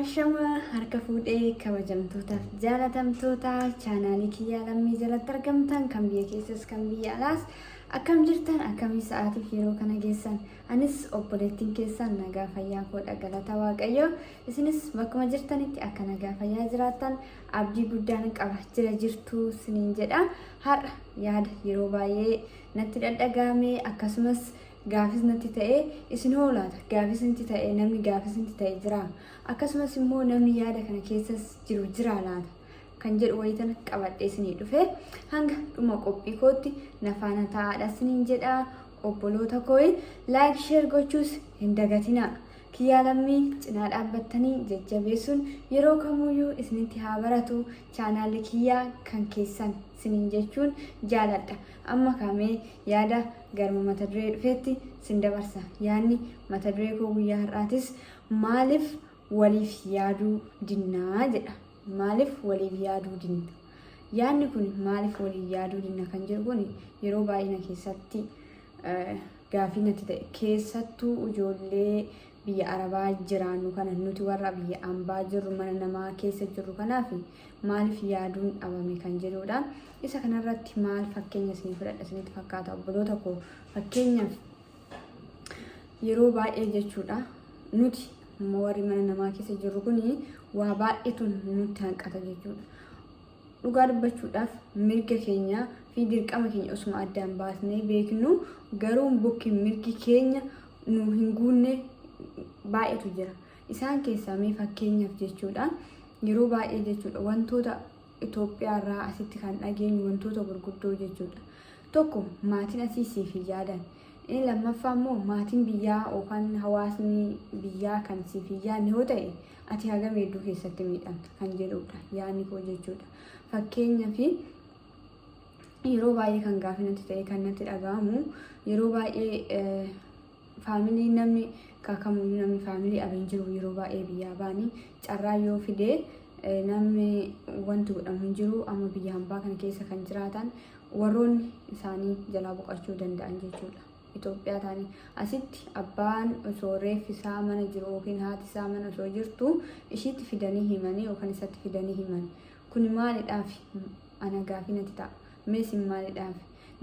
Ashama harka fuudhee kabajamtootaaf jaalatamtoota chaanaalii kiyyaa lammii jalatti argamtan kan biyya keessas kan biyya alaas akkam jirtan akkamii sa'aatiif yeroo kana geessan anis obboleettiin keessan nagaa fayyaa koodha galata waaqayyoo isinis bakkuma jirtanitti akka nagaa fayyaa jiraattan abdii guddaan qaba jira jirtuu siniin jedha har'a yaada yeroo baay'ee natti dhadhagaame akkasumas gaafis natti ta'e isin hoo laata gaafis ntti ta'e namni gaafis ntti ta'e jiraa? Akkasumas immoo namni yaada kana keessas jiru jiraa laata? kan jedhu wayitan qabadhee isinii dhufe hanga dhuma qophii kootti na faana ta'aadha isiniin jedha obboloota kooyi laayik sheer gochuus hin dagatinaa. Kiyyaa lammii cinaa dhaabbattanii jajjabeessuun yeroo kamuyyuu isinitti haa baratu chaanaalli kiyyaa kan keessan isiniin jechuun jaaladha. Amma kamee yaada Garma mata duree dhufeetti sin dabarsa. Yaadni mata duree koo guyyaa har'aatis maaliif waliif yaaduu dinnaa jedha. Maaliif waliif yaaduu dinna? Yaadni kun maaliif waliif yaaduu dinna kan jedhu kun yeroo baay'ina keessatti gaafii natti ta'e keessattuu ijoollee biyya arabaa jiraannu kana nuti warra biyya ambaa jirru mana namaa keessa jirru kanaaf maaliif yaaduun dhabame kan jedhuudha isa kanarratti maal fakkeenya isinii fudhadha isinitti fakkaata obboloota koo fakkeenyaaf yeroo baay'ee jechuudha nuti amma warri mana namaa keessa jirru kun waa baay'eetu nutti hanqata jechuudha Dhugaa dubbachuudhaaf mirga keenya fi dirqama keenya osuma addaan baasnee beeknuu garuu bokki mirgi keenya nu hin guunne baay'eetu jira. Isaan keessaa mee fakkeenyaaf jechuudha yeroo baay'ee jechuudha wantoota Itoophiyaa irraa asitti kan dhageenyu wantoota gurguddoo jechuudha. Tokko maatiin asii siif hin yaadan. Inni lammaffaa immoo maatiin biyyaa yookaan hawaasni biyyaa kan siif hin yaadne yoo ta'e ati hagam hedduu keessatti miidhamta kan jedhudha yaadni koo jechuudha. Fakkeenyaaf yeroo baay'ee kan gaaffii natti ta'e kan natti dhaga'amu yeroo baay'ee faamilii namni kakamuyyuu namni faamilii abin jiru yeroo baay'ee biyyaa baanii carraa yoo fidee namni wanti godhamu hin jiru amma biyya hambaa kana keessa kan jiraatan warroonni isaanii jalaa boqachuu danda'an jechuudha. Itoophiyaa taanii asitti abbaan osoo reeffi isaa mana jiru yookiin haati isaa mana osoo jirtu ishiitti fidanii himanii yookaan isatti fidanii himan kuni maalidhaaf ana gaafii natti ta'a meesin maalidhaaf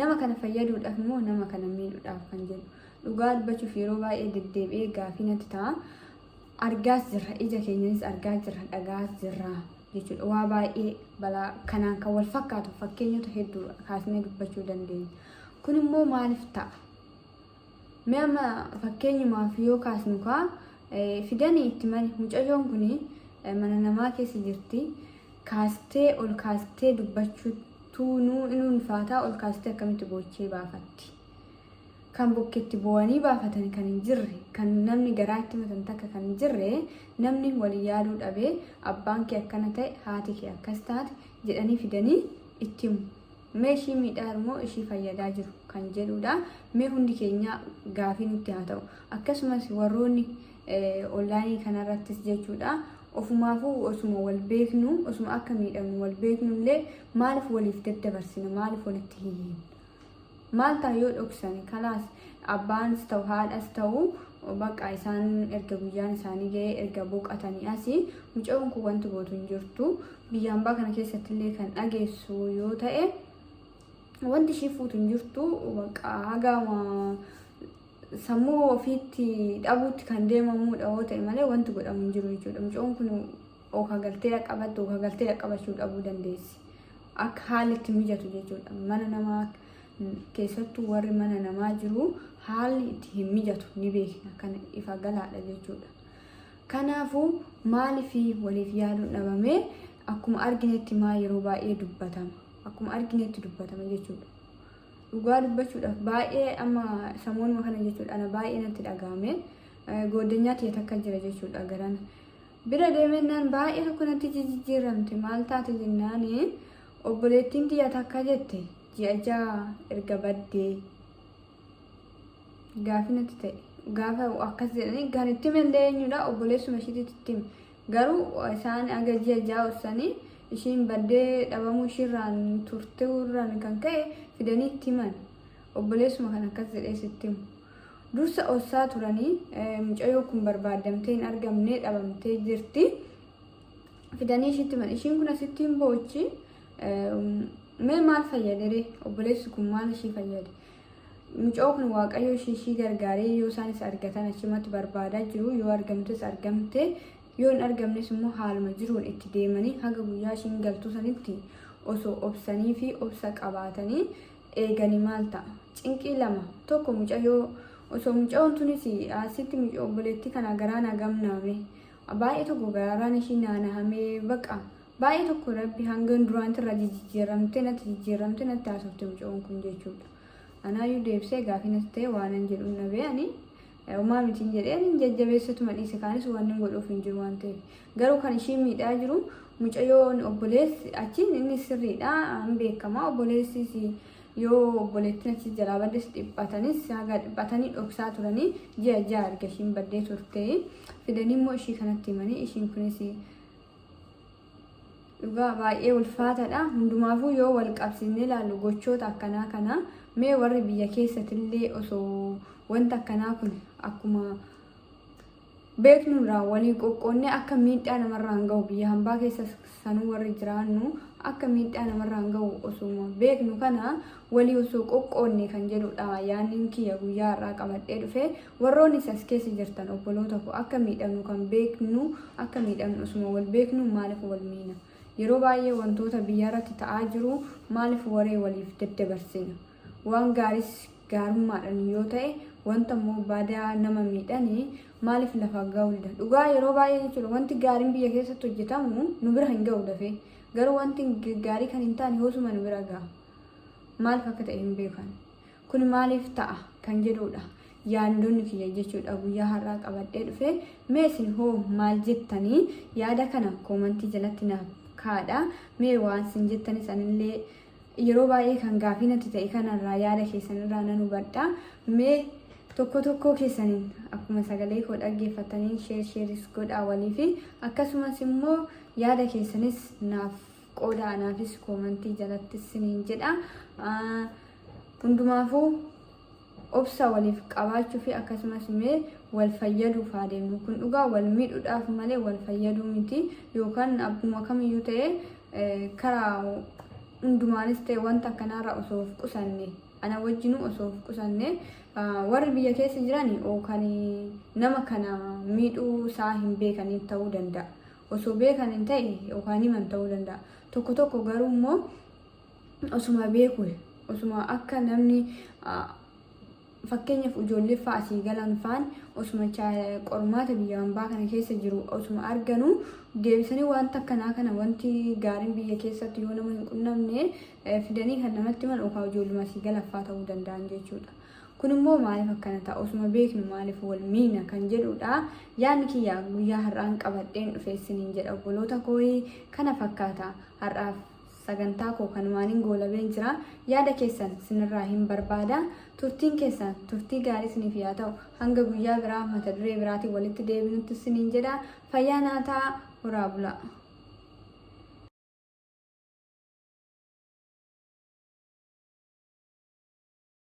nama kana fayyaduudhaaf immoo nama kana miidhuudhaaf kan jedhu dhugaa dubbachuuf yeroo baay'ee deddeebi'ee gaafii natti ta'a. argaas jirra ija keenyanis argaa jirra dhaga'aas jirra jechuudha. Waa baay'ee balaa kanaan kan wal fakkaatu fakkeenyota hedduu kaasnee dubbachuu dandeenya. Kun immoo maaliif ta'a? Mee amma fakkeenyumaaf yoo kaasnu kaa eh, fidanii itti mani mucayyoon kun mana namaa keessa jirti kaastee ol kaastee dubbachuutu nu in ulfaataa ol kaastee akkamitti boochee baafatti. kan bukketti boo'anii baafatan kan hin jirre, kan namni garaa itti himatan takka kan hin jirre, namni wal yaaluu dhabe, abbaan kee akkana ta'e, haati kee akkas taate jedhanii fidanii itti himu. Mee ishii miidhaa jiru moo ishii fayyadaa jiru kan jedhuudha. Mee hundi keenyaa gaafii nutti haa ta'u. Akkasumas warroonni onlaayinii kanarrattis jechuudha. Ofumaafuu osuma wal beeknu, osuma akka miidhamnu wal beeknu illee maaliif waliif daddabarsina, maaliif walitti hin hiinu? Maal ta'a yoo dhoksani kalaas abbaanis ta'u haadhas ta'u bakka isaan erga guyyaan isaanii ga'ee erga boqatanii asi mucayoon kun wanti gootu hin jirtu biyya ambaa kana keessatti illee kan dhageessu yoo ta'e wanti ishii fuutu hin jirtu bakka hagaama sammuu ofiitti dhabuutti kan deemamuudha yoo ta'e malee wanti godhamu hin jiru jechuudha mucayoon kun Oka galtee yaa qabattu oka galtee yaa qabachuu dhabuu dandeessi. Akka haalli itti mijatu jechuudha. Mana namaa keessattuu warri mana namaa jiru haalli itti hin mijatu ni beekna kan ifa galaadha jechuudha. Kanaafuu maaliif waliif yaaduun dhabamee akkuma arginetti maa yeroo baay'ee dubbatama. Akkuma arginetti dubbatama jechuudha. Dhugaa dubbachuudhaaf baay'ee amma samoonuma kana jechuudha ana baay'ee natti dhaga'ame. Gooddanyaa tiyya takka jira jechuudha garana. Bira deemennaan baay'ee tokko natti jijijjiiramte maal taate jennaan obboleettiin tiyya takka jette ji'a ja'a erga baddee gaafi natti ta'e gaafa akkas jedhanii kan itti mallee eenyudha obboleessuma ishiititti itti hime. garuu isaan aga ji'a ja'a ursanii ishiin baddee dhabamuu ishiirraan turteerraan kan ka'e fidanii itti himan obboleessuma kan akkas jedhee sitti himu. Dursa ossaa turanii mucayoo kun barbaaddamtee hin argamnee dhabamtee jirti. Fidanii ishiitti mana ishiin kun asitti hin boochi. Mee maal fayyadere obboleessi kun maal ishii fayyade? Mucoo kun waaqayyo ishii ishii gargaaree yoo isaan isa argatan achumatti barbaadaa jiru yoo argamtes argamte yoo hin argamnes immoo haaluma jiruun itti deemanii haga guyyaa ishiin galtuu sanitti osoo obsanii fi obsa qabaatanii eegani maal ta'a cinqii lama tokko mucayoo osoo mucayoon tunis asitti mucayoo obboleettii kana garaa naa gamnaame baay'ee tokko garaan ishii naanahamee baqa baay'ee tokko rabbi hangan duraanti irraa jijjiiramtee natti jijjiiramtee natti haasofte mucayoon kun jechuudha anaayyuu deebisee gaafii natti ta'e waanan jedhuun dhabee ani Homaa mitiin jedhee ani hin jajjabeessatuma dhiise kaanis waan hin godhuuf hin jiru waan ta'eef. Garuu kan ishii miidhaa jiru mucayyoon obboleessi achiin inni sirriidha hin beekama obboleessis yoo obboleettiin achi jalaa baddes dhiphatanis haga dhiphatanii dhoksaa turanii ji'a ja'a erga ishiin baddee turte fidanii immoo ishii kanatti himanii ishiin kunis Dhugaa baay'ee ulfaataadha. Hundumaafuu yoo wal qabsiisnee ilaallu gochoota akkanaa kana mee warri biyya keessatillee osoo wanta akkanaa kun akkuma beeknurraa waliin qoqqoonnee akka miidhaa namarraan gahu biyya hambaa keessa sanuu warri jiraannu akka miidhaa namarraan gahu osuma beeknu kana Walii osoo qoqqoodnee kan jedhudha yaannin kiyya guyyaa har'aa qabadhee dhufe. Warroonis as keessa jirtan obboloota koo akka miidhamnu kan beeknu akka miidhamnu osuma wal beeknuu maaliif wal miina? Yeroo baay'ee wantoota biyyarratti ta'aa jiru maaliif waree waliif daddabarsina? Waan gaaris gaarummaadhan yoo ta'e wanta immoo badaa nama miidhani maaliif lafa ga'uu dida? Dhugaa yeroo baay'ee jechuudha wanti gaariin biyya keessatti hojjetamu nu bira hin ga'u dafee. Garuu wanti gaarii kan hin taane hoosuma nu bira ga'a. Maaliif akka ta'e hin beekan. Kun maaliif ta'a kan jedhuudha yaandoonni kiyya jechuudha guyyaa har'aa qabadhee dhufe. Mee isin hoo maal jettanii yaada kana koomantii jalatti naaf kaadha. Mee waan isin jettanis anillee yeroo baay'ee kan gaafii natti ta'e kanarraa yaada keessanirraa nan hubadha. Mee tokko tokkoo keessaniin akkuma sagalee koo dhaggeeffattaniin sheer sheeris godhaa waliifi akkasumas immoo yaada keessanis naaf qooda anaafis koomantii jalatti siniin jedha hundumaafuu obsa waliif qabaachuu fi akkasumas mee wal fayyaduuf haa deemnu kun dhugaa wal miidhuudhaaf malee wal fayyaduu miti yookaan abbuma kamiyyuu ta'e karaa hundumaanis ta'e wanta akkanaarraa osoo of qusanne ana wajjinuu osoo of qusanne warri biyya keessa jiran yookaan nama kana miidhuu isaa hin beekaniin ta'uu danda'a. Osoo beekaniin ta'e yookaan himan ta'uu danda'a. Tokko tokko garuu immoo osuma beeku osuma akka namni fakkeenyaaf ijoollee fa'aa asii galan fa'aan osuma qormaata biyya hambaa kana keessa jiru osuma arganu deebisanii wanta akkanaa kana wanti gaariin biyya keessatti yoo nama hin qunnamne fidanii kan namatti himan yookaan ijoolluma asii galaffaa ta'uu danda'an jechuudha. Kun immoo maaliif akkana ta'a? Osuma beeknu maaliif wal miina? kan jedhuudha. Yaadni kiyya guyyaa har'aan qabadheen dhufe isiniin jedha obboloota kooyi kana fakkaata. Har'aaf sagantaa koo kanumaanin goolabeen jira. Yaada keessan sinirraa hin barbaada. Turtiin keessan turtii gaarii isiniif yaa ta'u. Hanga guyyaa biraa mata duree biraatiin walitti deebinutti isiniin jedha. Fayyaa naa ta'aa horaa bulaa.